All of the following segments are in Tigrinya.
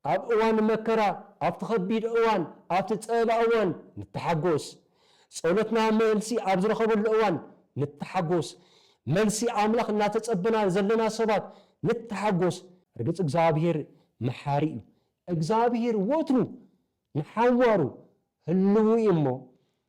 ኣብ እዋን መከራ፣ ኣብቲ ከቢድ እዋን፣ ኣብቲ ጸበባ እዋን ንተሓጎስ። ጸሎትና መልሲ ኣብ ዝረኸበሉ እዋን ንተሓጎስ። መልሲ ኣምላኽ እናተጸበና ዘለና ሰባት ንተሓጎስ። ርግጽ እግዚኣብሄር መሓሪ እዩ። እግዚኣብሄር ወትሩ ንሓዋሩ ህልዉ እዩ እሞ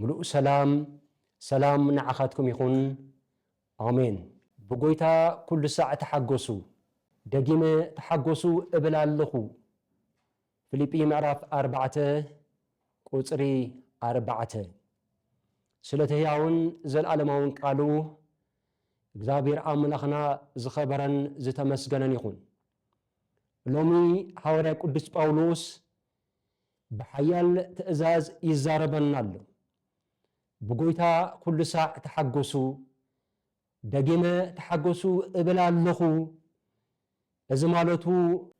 ምሉእ ሰላም ሰላም ንዓኻትኩም ይኹን ኣሜን። ብጎይታ ኩሉ ሳዕ ተሓጎሱ ደጊመ ተሓጎሱ እብል ኣለኹ ፍሊጲ ምዕራፍ ኣርባዕተ ቁጽሪ ኣርባዕተ ስለቲ ህያውን ዘልኣለማውን ቃሉ እግዚኣብሔር ኣምላኽና ዝኸበረን ዝተመስገነን ይኹን። ሎሚ ሃዋርያ ቅዱስ ጳውሎስ ብሓያል ትእዛዝ ይዛረበና ኣሎ። ብጐይታ ኵሉ ሳዕ ተሓጐሱ፣ ደጊመ ተሓጐሱ እብል ኣሎኹ። እዚ ማለቱ።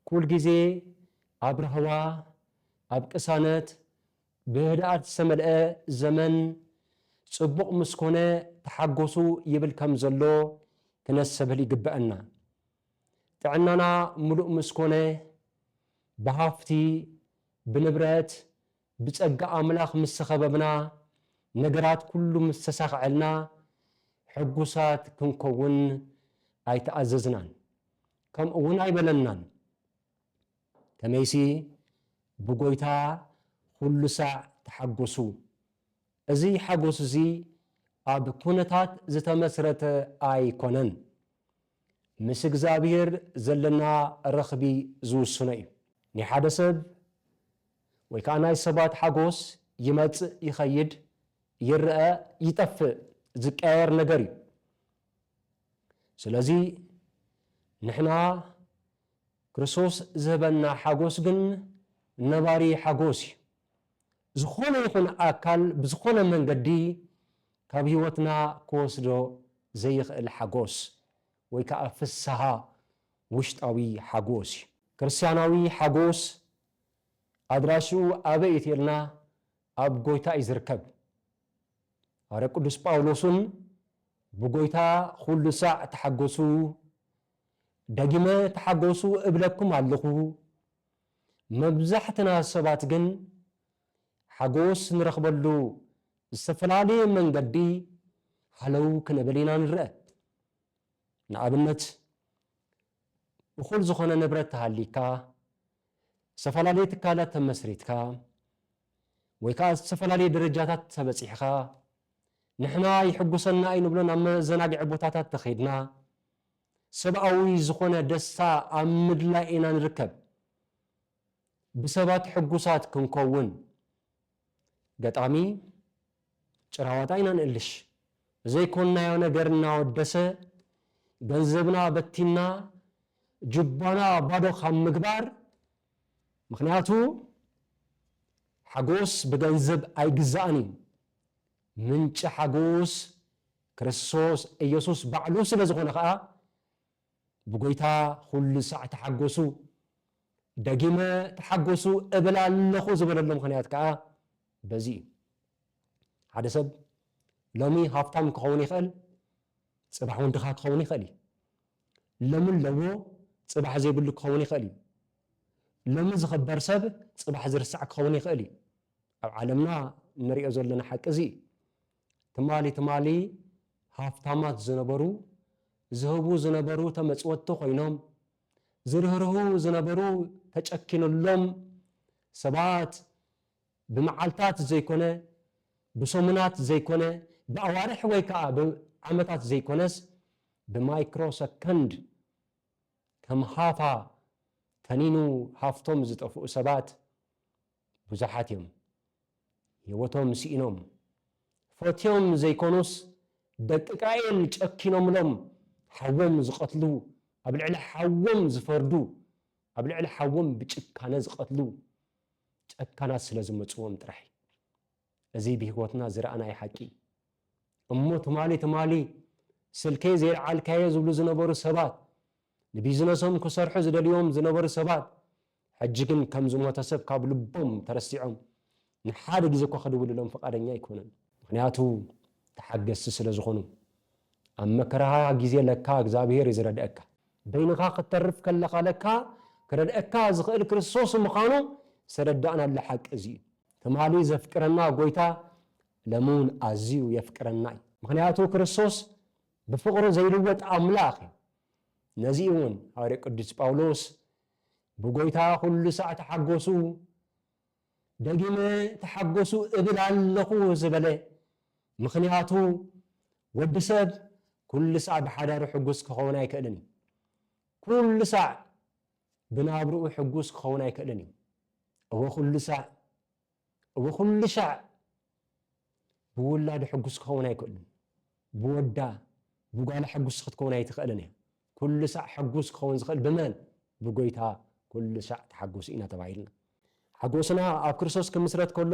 ኵል ግዜ ኣብ ራህዋ፣ ኣብ ቅሳነት፣ ብህድኣት ዝተመልአ ዘመን ጽቡቕ ምስ ኰነ ተሓጐሱ ይብል ከም ዘሎ ክነሰብህል ይግብኣና። ጥዕናና ምሉእ ምስ ኮነ፣ ብሃፍቲ፣ ብንብረት፣ ብጸጋ ኣምላኽ ምስ ተኸበብና፣ ነገራት ኩሉ ምስ ተሳኽዐልና፣ ሕጉሳት ክንከውን ኣይተኣዘዝናን፣ ከምኡውን ኣይበለናን። ከመይሲ፣ ብጐይታ ዅሉ ሳዕ ተሓጐሱ። እዚ ሓጐስ እዚ ኣብ ኵነታት ዝተመስረተ ኣይኰነን። ምስ እግዝኣብሄር ዘለና ረኽቢ ዝውስኖ እዩ። ናይ ሓደ ሰብ ወይ ከኣ ናይ ሰባት ሓጎስ ይመጽእ ይኸይድ፣ ይረኣ ይጠፍእ፣ ዝቀያየር ነገር እዩ። ስለዚ ንሕና ክርስቶስ ዝህበና ሓጎስ ግን ነባሪ ሓጎስ እዩ። ዝኾነ ይኹን ኣካል ብዝኾነ መንገዲ ካብ ህይወትና ክወስዶ ዘይኽእል ሓጎስ ወይ ከኣ ፍስሃ ውሽጣዊ ሓጎስ እዩ። ክርስትያናዊ ሓጎስ ኣድራሽኡ ኣበይ እዩ ተይልና ኣብ ጎይታ እዩ ዝርከብ። ሃዋርያ ቅዱስ ጳውሎስን ብጎይታ ኹሉ ሳዕ ተሓጎሱ ደጊመ ተሓጎሱ እብለኩም ኣለኹ መብዛሕትና ሰባት ግን ሓጎስ ንረኽበሉ ዝተፈላለየ መንገዲ ሃለው ክንብል ኢና ንረኣ። ንኣብነት እኹል ዝኾነ ንብረት ተሃልይካ፣ ዝተፈላለየ ትካላት ተመስሪትካ ወይ ከኣ ዝተፈላለየ ደረጃታት ተበጺሕኻ፣ ንሕና ይሕጉሰና እዩ ንብሎ ናብ መዘናግዒ ቦታታት ተኸይድና፣ ሰብኣዊ ዝኾነ ደስታ ኣብ ምድላይ ኢና ንርከብ። ብሰባት ሕጉሳት ክንከውን ገጣሚ፣ ጭራዋጣ ኢና ንእልሽ። ዘይኮንናዮ ነገር እናወደሰ ገንዘብና በቲንና ጁባና ባዶ ካብ ምግባር፣ ምኽንያቱ ሓጎስ ብገንዘብ ኣይግዛእን እዩ። ምንጪ ሓጎስ ክርስቶስ ኢየሱስ ባዕሉ ስለ ዝኾነ ኸኣ ብጐይታ ዅሉ ሳዕ ተሓጐሱ፣ ደጊመ ተሓጐሱ እብል ኣለኹ ዝበለሉ ምኽንያት ከኣ በዚ እዩ። ሓደ ሰብ ሎሚ ሃብታም ክኸውን ይኽእል፣ ጽባሕ እውን ድኻ ክኸውን ይኽእል እዩ። ሎሚ ኣለዎ፣ ጽባሕ ዘይብሉ ክኸውን ይኽእል እዩ። ሎሚ ዝኽበር ሰብ ጽባሕ ዝርሳዕ ክኸውን ይኽእል እዩ። ኣብ ዓለምና እንሪኦ ዘለና ሓቂ እዚ እዩ። ትማሊ ትማሊ ሃፍታማት ዝነበሩ፣ ዝህቡ ዝነበሩ ተመፅወቲ ኮይኖም፣ ዝርህርሁ ዝነበሩ ተጨኪንሎም፣ ሰባት ብመዓልታት ዘይኮነ፣ ብሰሙናት ዘይኮነ፣ ብኣዋርሕ ወይ ከዓ ብዓመታት ዘይኮነስ ብማይክሮ ሰከንድ ከም ሃፋ ተኒኑ ሃፍቶም ዝጠፍኡ ሰባት ብዙሓት እዮም ሂወቶም ስኢኖም ፈትዮም ዘይኮኑስ ደቂ ቃኤል ጨኪኖምሎም ሓዎም ዝቀትሉ ኣብ ልዕሊ ሓዎም ዝፈርዱ ኣብ ልዕሊ ሓዎም ብጭካነ ዝቀትሉ ጨካናት ስለ ዝመጽዎም ጥራሕ እዩ። እዚ ብህይወትና ዝረኣናዮ ሓቂ እዩ። እሞ ትማሊ ትማሊ ስልከይ ዘይልዓልካዮ ዝብሉ ዝነበሩ ሰባት፣ ንቢዝነሶም ክሰርሑ ዝደልዩዎም ዝነበሩ ሰባት፣ ሕጂ ግን ከም ዝሞተ ሰብ ካብ ልቦም ተረሲዖም ንሓደ ግዜ እኳ ክድውልሎም ፍቓደኛ ኣይኮኑን። ምኽንያቱ ተሓገስቲ ስለ ዝኾኑ። ኣብ መከራኻ ግዜ ለካ እግዚኣብሄር እዩ ዝረድኣካ። በይንኻ ክትተርፍ ከለኻ ለካ ክረድኣካ ዝኽእል ክርስቶስ ምዃኑ ዝተረዳእናሉ ሓቂ እዚ እዩ። ትማሊ ዘፍቅረና ጐይታ ሎሚ እውን ኣዝዩ የፍቅረና እዩ። ምኽንያቱ ክርስቶስ ብፍቕሩ ዘይልወጥ ኣምላኽ እዩ። ነዚ እውን ሃዋርያ ቅዱስ ጳውሎስ ብጐይታ ዅሉ ሳዕ ተሓጐሱ፣ ደጊመ ተሓጐሱ እብል ኣለኹ ዝበለ ምኽንያቱ ወዲ ሰብ ኵሉ ሳዕ ብሓዳሩ ሕጉስ ክኸውን ኣይክእልን እዩ። ኵሉ ሳዕ ብናብርኡ ሕጉስ ክኸውን ኣይክእልን እዩ። እወ ኩሉ ሳዕ እወ ኩሉ ሻዕ ብውላዱ ሕጉስ ክኸውን ኣይክእልን። ብወዳ ብጓላ ሕጉስ ክትከውን ኣይትኽእልን እያ። ኩሉ ሳዕ ሕጉስ ክኸውን ዝኽእል ብመን? ብጎይታ ኩሉ ሳዕ ተሓጎሱ ኢና ተባሂልና። ሓጎስና ኣብ ክርስቶስ ክምስረት ከሎ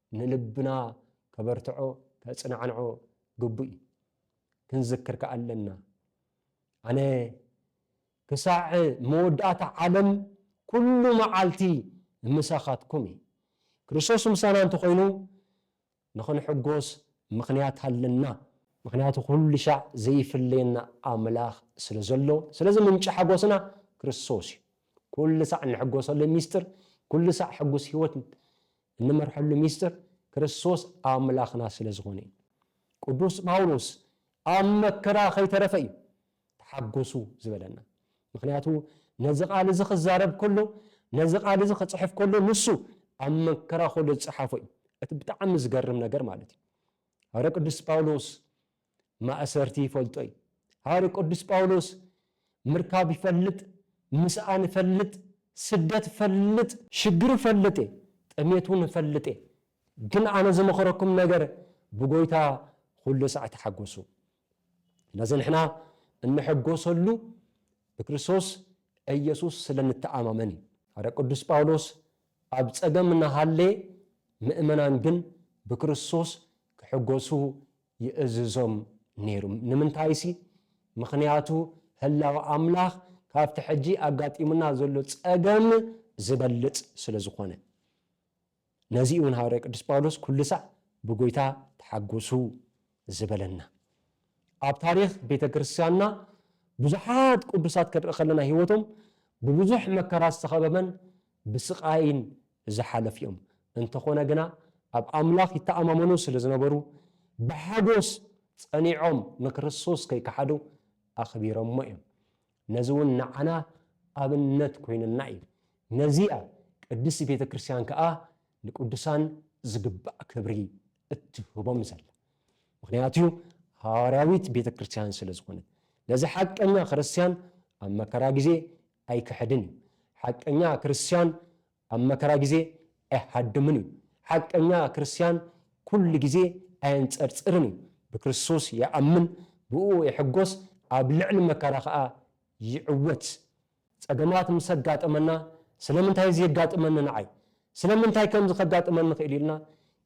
ንልብና ከበርትዖ ከጽናዕንዖ ግቡእ እዩ። ክንዝክር ከኣ ኣለና ኣነ ክሳዕ መወዳእታ ዓለም ኩሉ መዓልቲ ምሳኻትኩም እየ። ክርስቶስ ምሳና እንተኾይኑ ንኽንሕጎስ ምኽንያት ኣለና። ምኽንያቱ ኩሉሻዕ ዘይፍለየና ኣምላኽ ስለ ዘሎ፣ ስለዚ ምንጪ ሓጎስና ክርስቶስ እዩ። ኩሉሳዕ እንሕጎሰሉ ሚስጥር፣ ኩሉሳዕ ሕጉስ ህይወት እንመርሐሉ ሚስጥር ክርስቶስ ኣምላኽና ስለ ዝኾነ እዩ። ቅዱስ ጳውሎስ ኣብ መከራ ከይተረፈ እዩ ተሓጎሱ ዝበለና። ምክንያቱ ነዚ ቃል እዚ ክዛረብ ከሎ ነዚ ቃል እዚ ክፅሕፍ ከሎ ንሱ ኣብ መከራ ከሎ ዝፀሓፎ እዩ። እቲ ብጣዕሚ ዝገርም ነገር ማለት እዩ ሃዋርያ ቅዱስ ጳውሎስ ማእሰርቲ ይፈልጦ እዩ። ሃዋርዩ ቅዱስ ጳውሎስ ምርካብ ይፈልጥ፣ ምስኣን እፈልጥ፣ ስደት እፈልጥ፣ ሽግር እፈልጥ እየ፣ ጥሜት እውን እፈልጥ እየ፣ ግን ኣነ ዝመኽረኩም ነገር ብጐይታ ዅሉ ሳዕ ተሓጐሱ። ስለዚ ንሕና እንሕጐሰሉ ብክርስቶስ ኢየሱስ ስለ እንተኣማመን እዩ። ሃዋርያ ቅዱስ ጳውሎስ ኣብ ጸገም እናሃለየ ምእመናን ግን ብክርስቶስ ክሕጐሱ ይእዝዞም ነይሩ። ንምንታይሲ፣ ምኽንያቱ ህላወ ኣምላኽ ካብቲ ሕጂ ኣጋጢሙና ዘሎ ጸገም ዚበልጽ ስለ ዝዀነ። ነዚ ኢዩ'ውን ሃዋርያ ቅዱስ ጳውሎስ ኵሉ ሳዕ ብጐይታ ተሓጐሱ ዝበለና። ኣብ ታሪኽ ቤተ ክርስትያንና ብዙሓት ቅዱሳት ክንርኢ ከለና ህይወቶም ብብዙሕ መከራ ዝተኸበበን ብስቓይን ዝሓለፉ'ዮም። እንተኾነ ግና ኣብ ኣምላኽ ይተኣማመኑ ስለ ዝነበሩ ብሓጎስ ጸኒዖም ንክርስቶስ ከይከሓዱ ኣኽቢሮሞ እዮም። ነዚ ውን ንዓና ኣብነት ኮይኑና እዩ። ነዚ'ያ ቅድስቲ ቤተ ክርስቲያን ከኣ ንቅዱሳን ዝግባእ ክብሪ እትህቦም ዘላ። ምኽንያቱ ሃዋርያዊት ቤተ ክርስቲያን ስለ ዝኾነት። ነዚ ሓቀኛ ክርስቲያን ኣብ መከራ ግዜ ኣይክሕድን እዩ። ሓቀኛ ክርስትያን ኣብ መከራ ግዜ ኣይሃድምን እዩ። ሓቀኛ ክርስትያን ኩሉ ግዜ ኣየንጸርጽርን እዩ። ብክርስቶስ ይኣምን፣ ብእኡ ይሕጎስ፣ ኣብ ልዕሊ መከራ ከኣ ይዕወት። ጸገማት ምስ ኣጋጠመና ስለምንታይ እዚ የጋጥመኒ ንዓይ? ስለምንታይ ከምዚ ከጋጥመኒ ክኢሉ ኢልና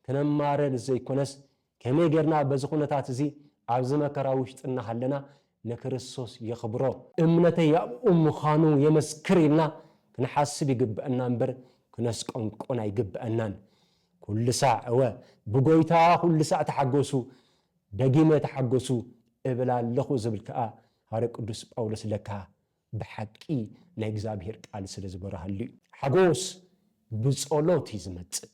ክነማርር ዘይኮነስ ከመይ ጌርና በዚ ኩነታት እዚ ኣብዚ መከራ ውሽጢ እናሃለና ንክርስቶስ የኽብሮ፣ እምነተይ ኣብኡ ምዃኑ የመስክር ኢልና ክንሓስብ ይግበእና እምበር ክነስቆንቁን ኣይግበእናን። ኩሉ ሳዕ እወ ብጎይታ ኩሉ ሳዕ ተሓጎሱ፣ ደጊመ ተሓጎሱ እብል ኣለኹ ዝብል ከኣ ሃርያ ቅዱስ ጳውሎስ ለካ ብሓቂ ናይ እግዚኣብሄር ቃል ስለ ዝበርሃሉ እዩ። ሓጎስ ብጸሎት እዩ ዝመጽእ።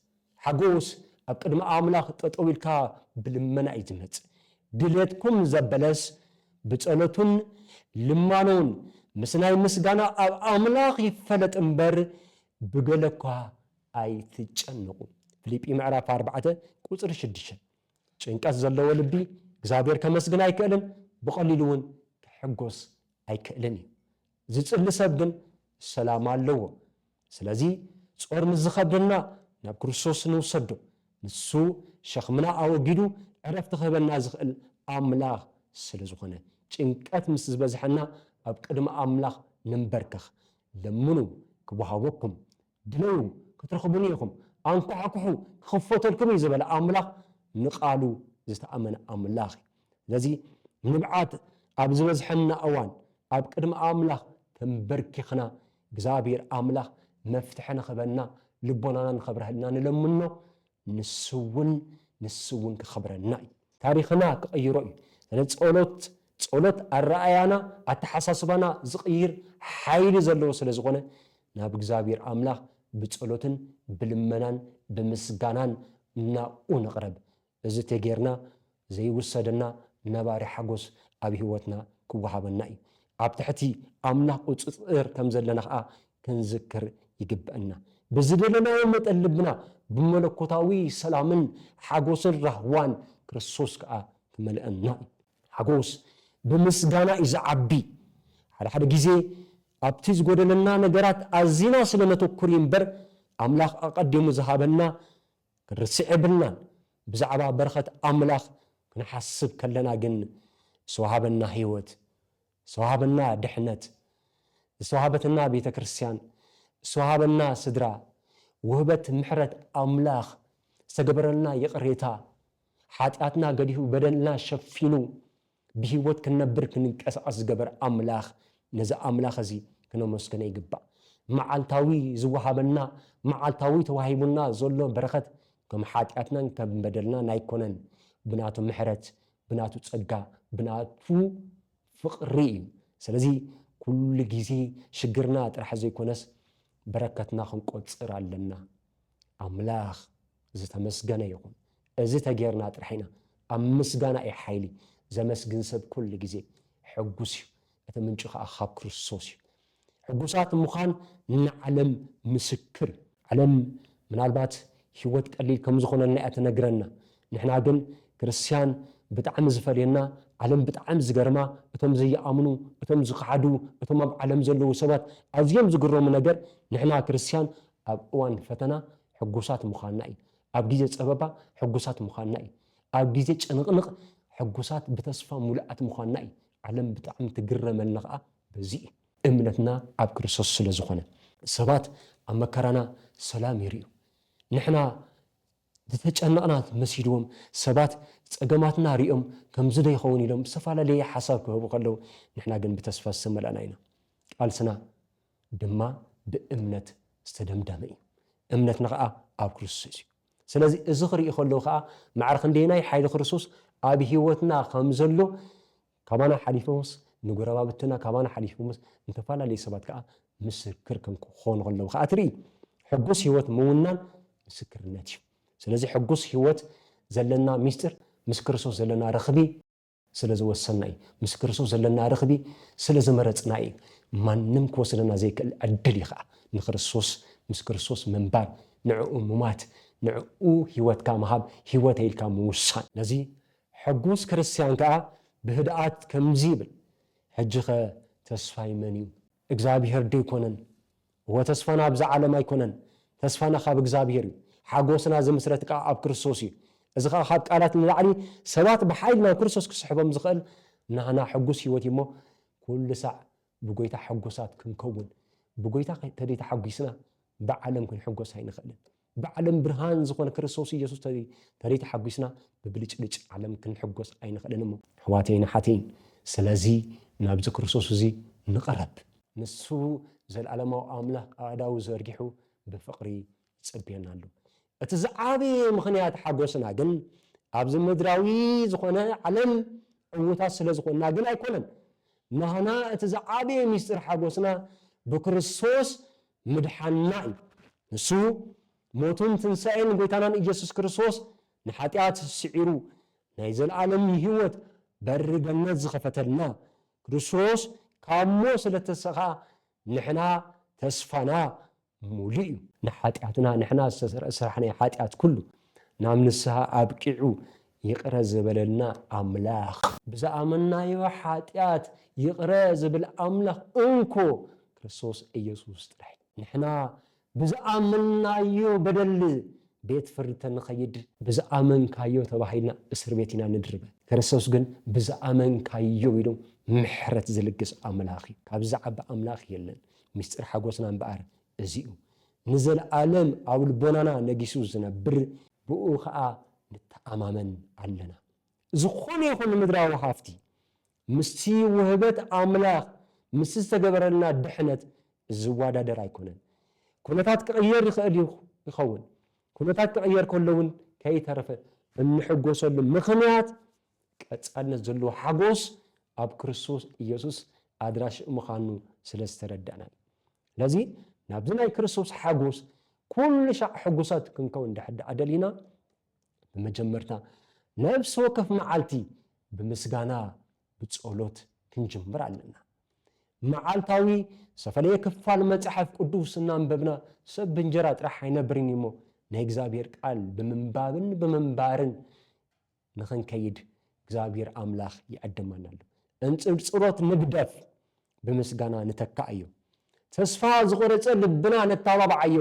ሓጎስ ኣብ ቅድሚ ኣምላኽ ጠጠው ኢልካ ብልመና እዩ ዝመጽእ። ድሌትኩም ዘበለስ ብጸሎቱን ልማኖን ምስ ናይ ምስጋና ኣብ ኣምላኽ ይፈለጥ እምበር ብገለ እኳ ኣይትጨነቁ። ፍሊጲ ምዕራፍ ኣርባዕተ ቁጽሪ ሽድሽተ ጭንቀት ዘለዎ ልቢ እግዚኣብሄር ከመስግን ኣይክእልን ብቀሊሉ እውን ክሕጎስ ኣይክእልን እዩ ዝጽሊ ሰብ ግን ሰላም ኣለዎ ስለዚ ጾር ምስ ዝከብደና ናብ ክርስቶስ ንውሰዶ ንሱ ሸክምና ኣወጊዱ ዕረፍቲ ክህበና ዝክእል ኣምላክ ስለ ዝኮነ ጭንቀት ምስ ዝበዝሐና ኣብ ቅድሚ ኣምላክ ንንበርከክ ለምኑ ክወሃበኩም ድለዩ ክትረኽቡኒ ኢኹም፣ ኣንኳሕኩሑ ክኽፈተልኩም እዩ ዝበለ ኣምላኽ ንቃሉ ዝተኣመነ ኣምላኽ እዩ። ስለዚ ንብዓት ኣብ ዝበዝሐና እዋን ኣብ ቅድሚ ኣምላኽ ተንበርኪኽና እግዚኣብሔር ኣምላኽ መፍትሒ ንኽበና ልቦናና ንኸብረሀልና ንለምኖ ንሱውን ንሱውን ክከብረና እዩ። ታሪክና ክቅይሮ እዩ ስለዚ ፆሎት ፆሎት ኣረኣእያና ኣተሓሳስባና ዝቅይር ሓይሊ ዘለዎ ስለ ዝኮነ ናብ እግዚኣብሔር ኣምላክ ብፆሎትን ብልመናን ብምስጋናን ናብኡ ንቅረብ እዚ ተገይርና ዘይውሰደና ነባሪ ሓጎስ ኣብ ህይወትና ክወሃበና እዩ። ኣብ ትሕቲ ኣምላኽ ቁጽጽር ከም ዘለና ኸኣ ክንዝክር ይግበእና። ብዝደለናዮ መጠን ልብና ብመለኮታዊ ሰላምን ሓጎስን ራህዋን ክርስቶስ ከኣ ክመልኣና እዩ። ሓጎስ ብምስጋና እዩ ዝዓቢ። ሓደ ሓደ ግዜ ኣብቲ ዝጎደለና ነገራት ኣዚና ስለ ነተኩር እዩ እምበር ኣምላኽ ኣቀዲሙ ዝሃበና ክንርስዕ የብልናን። ብዛዕባ በረኸት ኣምላኽ ክንሓስብ ከለና ግን ዝተዋህበና ህይወት፣ ዝተዋህበና ድሕነት፣ ዝተዋህበትና ቤተ ክርስቲያን፣ ዝተዋህበና ስድራ፣ ውህበት ምሕረት ኣምላኽ፣ ዝተገበረልና ይቕሬታ፣ ሓጢኣትና ገዲፉ በደልና ሸፊኑ፣ ብህይወት ክንነብር ክንንቀሳቐስ ዝገበረ ኣምላኽ ነዚ ኣምላኽ እዚ ክነመስግኖ ይግባእ። መዓልታዊ ዝወሃበና መዓልታዊ ተዋሂቡና ዘሎ በረኸት ከም ሓጢኣትናን ከም በደልናን ኣይኮነን። ብናቱ ምሕረት ብናቱ ጸጋ ብናቱ ፍቕሪ እዩ። ስለዚ ኩሉ ግዜ ሽግርና ጥራሕ ዘይኮነስ በረከትና ክንቆጽር ኣለና። ኣምላኽ ዝተመስገነ ይኹን እዚ ተጌርና ጥራሕ ኢና ኣብ ምስጋና እዩ ሓይሊ ዘመስግን ሰብ ኩሉ ግዜ ሕጉስ እዩ እቲ ምንጩ ከኣ ካብ ክርስቶስ እዩ ሕጉሳት ምዃን ንዓለም ምስክር እዩ ዓለም ምናልባት ሂወት ቀሊል ከም ዝኾነልና እያ ትነግረና ንሕና ግን ክርስትያን ብጣዕሚ ዝፈልየና ዓለም ብጣዕሚ ዝገርማ እቶም ዘይኣምኑ እቶም ዝኸሓዱ እቶም ኣብ ዓለም ዘለዉ ሰባት ኣዝዮም ዝግረሙ ነገር ንሕና ክርስትያን ኣብ እዋን ፈተና ሕጉሳት ምዃንና እዩ። ኣብ ግዜ ጸበባ ሕጉሳት ምዃንና እዩ። ኣብ ግዜ ጭንቕንቕ ሕጉሳት ብተስፋ ምሉኣት ምዃንና እዩ። ዓለም ብጣዕሚ ትግረመልና ከኣ በዚ እዩ። እምነትና ኣብ ክርስቶስ ስለ ዝኾነ። ሰባት ኣብ መከራና ሰላም ይርእዩ። ንሕና ዝተጨነቕና መሲልዎም ሰባት ጸገማትና ርእዮም ከምዚ ዶ ይኸውን ኢሎም ዝተፈላለየ ሓሳብ ክህቡ ከለዉ ንሕና ግን ብተስፋ ዝተመላእና ኢና። ቃልስና ድማ ብእምነት ዝተደምደመ እዩ። እምነትና ኸኣ ኣብ ክርስቶስ እዩ። ስለዚ እዚ ክርኢ ከለዉ ኸኣ ማዕረ ክንደየናይ ሓይሊ ክርስቶስ ኣብ ህይወትና ከም ዘሎ ካባና ሓሊፎምስ ንጎረባብትና ካባና ሓሊፎምስ ንተፈላለዩ ሰባት ከዓ ምስክር ከም ክኾኑ ከለዉ ከዓ ትርኢ ሕጉስ ህይወት ምውናን ምስክርነት እዩ ስለዚ ሕጉስ ህይወት ዘለና ሚስጢር ምስ ክርስቶስ ዘለና ረኽቢ ስለ ዝወሰንና እዩ። ምስ ክርስቶስ ዘለና ርኽቢ ስለ ዝመረጽና እዩ። ማንም ክወስደና ዘይክእል ዕድል እዩ ኸኣ። ንክርስቶስ ምስ ክርስቶስ ምንባር፣ ንዕኡ ምሟት፣ ንዕኡ ህይወትካ ምሃብ፣ ህይወተይ ኢልካ ምውሳን። ነዚ ሕጉስ ክርስትያን ከኣ ብህድኣት ከምዚ ይብል፣ ሕጂኸ ተስፋይ መን እዩ? እግዝኣብሄር ዶ ኣይኮነን? እወ ተስፋና ኣብዛ ዓለም ኣይኮነን፣ ተስፋና ካብ እግዝኣብሄር እዩ። ሓጎስና ዝምስረት ከኣ ኣብ ክርስቶስ እዩ። እዚ ከኣ ካብ ቃላት ንላዕሊ ሰባት ብሓይሊ ናብ ክርስቶስ ክስሕቦም ዝኽእል ናህና ሕጉስ ሕይወት እዩ እሞ ኩሉ ሳዕ ብጎይታ ሕጉሳት ክንከውን ብጎይታ ተደይተሓጒስና ብዓለም ክንሕጎስ ኣይንኽእልን። ብዓለም ብርሃን ዝኾነ ክርስቶስ ኢየሱስ ተይ ተደይ ተሓጒስና ብብልጭልጭ ዓለም ክንሕጎስ ኣይንኽእልን እሞ። ኣሕዋተይን ኣሓተይን ስለዚ ናብዚ ክርስቶስ እዚ ንቕረብ። ንሱ ዘለዓለማዊ ኣምላኽ ኣእዳዉ ዘርጊሑ ብፍቕሪ ይጽብየና ኣሎ። እቲ ዝዓበየ ምኽንያት ሓጐስና ግን ኣብዚ ምድራዊ ዝኾነ ዓለም ዕዉታት ስለ ዝኾንና ግን ኣይኮነን። ናህና እቲ ዝዓበየ ምስጢር ሓጐስና ብክርስቶስ ምድሓንና እዩ። ንሱ ሞቱን ትንሳኤን ጎይታናን እየሱስ ክርስቶስ ንሓጢኣት ስዒሩ ናይ ዘልኣለም ይህወት በሪ ገነት ዝኸፈተልና ክርስቶስ ካብ ሞት ስለተሰኻ ንሕና ተስፋና ሙሉእ እዩ። ንሓጢኣትና ንሕና ዝተሰርዐ ስራሕ ናይ ሓጢኣት ኩሉ ናብ ንስሃ ኣብቂዑ ይቅረ ዝበለልና ኣምላኽ። ብዝኣመናዮ ሓጢኣት ይቅረ ዝብል ኣምላኽ እንኮ ክርስቶስ ኢየሱስ ጥራይ። ንሕና ብዝኣመናዮ በደል ቤት ፍርዲ ተንኸይድ። ብዝኣመንካዮ ተባሂልና እስር ቤት ኢና ንድርበ። ክርስቶስ ግን ብዝኣመንካዮ ኢሉ ምሕረት ዝልግስ ኣምላኽ እዩ። ካብዚ ዝዓቢ ኣምላኽ የለን። ምስጢር ሓጎስና እምበኣር እዚ እዩ። ንዘልኣለም ኣብ ልቦናና ነጊሱ ዝነብር ብእኡ ከኣ ንተኣማመን ኣለና። ዝኾነ ይኹን ምድራዊ ሃፍቲ ምስቲ ውህበት ኣምላኽ ምስቲ ዝተገበረልና ድሕነት ዝዋዳደር ኣይኮነን። ኩነታት ክቕየር ይኸእል እዩ ይኸውን ኩነታት ክቕየር ከሎ እውን ከይተረፈ እንሕጎሰሉ ምኽንያት ቀጻልነት ዘለዎ ሓጎስ ኣብ ክርስቶስ ኢየሱስ ኣድራሽእ ምኻኑ ስለ ዝተረዳእና እዩ። ስለዚ ናብዚ ናይ ክርስቶስ ሓጎስ ኩሉ ሻዕ ሕጉሳት ክንከውን እንድሕር ደኣ ደሊና ብመጀመርታ ነፍሲ ወከፍ መዓልቲ ብምስጋና ብጸሎት ክንጅምር ኣለና። መዓልታዊ ዝተፈለየ ክፋል መጽሓፍ ቅዱስ እናንበብና ሰብ ብእንጀራ ጥራሕ ኣይነብርን እዩሞ ናይ እግዚኣብሔር ቃል ብምንባብን ብምንባርን ንኽንከይድ እግዚኣብሔር ኣምላኽ ይዕድመና ኣሎ። እንጽርጽሮት ንግደፍ፣ ብምስጋና ንተካኣዮ። ተስፋ ዝቖረጸ ልብና ነተባብዓዮ።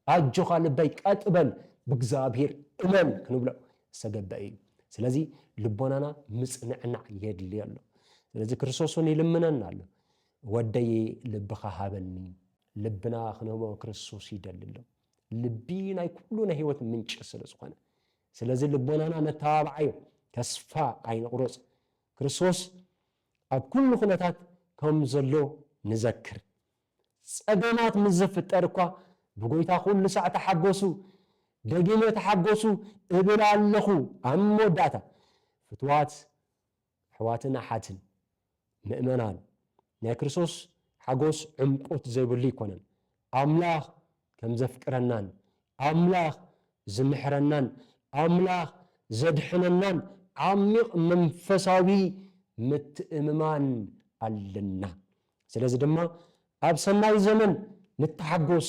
ኣጆኻ ልበይ ቀጥ በል ብእግዚኣብሔር እመን ክንብሎ ዝተገበኣ እዩ። ስለዚ ልቦናና ምጽንዕናዕ የድልዮ ኣሎ። ስለዚ ክርስቶስ እውን ይልምነና ኣሎ። ወደይ ልብኻ ሃበኒ። ልብና ክንህቦ ክርስቶስ ይደሊ ኣሎ። ልቢ ናይ ኩሉ ናይ ህይወት ምንጪ ስለ ዝኾነ ስለዚ ልቦናና ነተባብዓዮ፣ ተስፋ ኣይንቑረጽ፣ ክርስቶስ ኣብ ኩሉ ኩነታት ከም ዘሎ ንዘክር። ጸገማት ምስ ዝፍጠር እኳ ብጎይታ ኩሉ ሳዕ ተሓጎሱ፣ ደጊመ ተሓጎሱ እብል ኣለኹ። ኣብ መወዳእታ ፍቱዋት ኣሕዋትን ኣሓትን ምእመናን፣ ናይ ክርስቶስ ሓጎስ ዕምቈት ዘይብሉ ኣይኰነን። ኣምላኽ ከም ዘፍቅረናን ኣምላኽ ዝምሕረናን ኣምላኽ ዘድሕነናን ዓሚቕ መንፈሳዊ ምትእምማን ኣለና። ስለዚ ድማ ኣብ ሰናይ ዘመን ንተሓጐስ።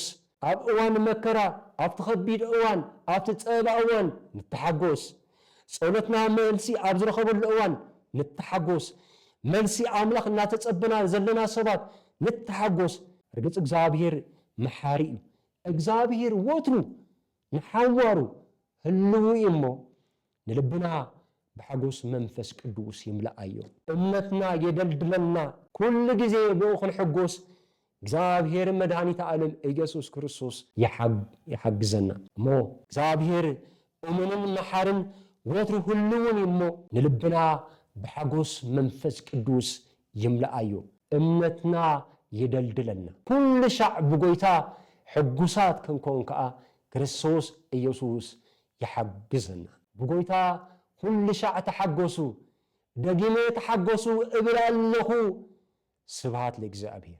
ኣብ እዋን መከራ፣ ኣብቲ ኸቢድ እዋን፣ ኣብቲ ጸበባ እዋን ንተሓጐስ። ጸሎትና መልሲ ኣብ ዝረኸበሉ እዋን ንተሓጐስ። መልሲ ኣምላኽ እናተጸበና ዘለና ሰባት ንተሓጐስ። ርግጽ እግዚኣብሄር መሓሪ እዩ። እግዚኣብሄር ወትሩ ንሓዋሩ ህልዉ እዩ እሞ፣ ንልብና ብሓጎስ መንፈስ ቅዱስ ይምልኣዮ። እምነትና የደልድለና። ኩሉ ግዜ ብኡ ክንሕጎስ እግዚኣብሔር መድኃኒተ ዓለም ኢየሱስ ክርስቶስ ይሓግዘና። እሞ እግዚኣብሔር እሙንን መሓርን ወትሩ ህልውን እዩ እሞ ንልብና ብሓጎስ መንፈስ ቅዱስ ይምልኣዮ። እምነትና የደልድለና። ኩሉ ሻዕ ብጎይታ ሕጉሳት ክንኮን ከኣ ክርስቶስ ኢየሱስ ይሓግዘና። ብጎይታ ኩሉሻዕ ተሓጎሱ ደጊመ ተሓጎሱ እብል ኣለኹ ስብሃት ለእግዚኣብሄር።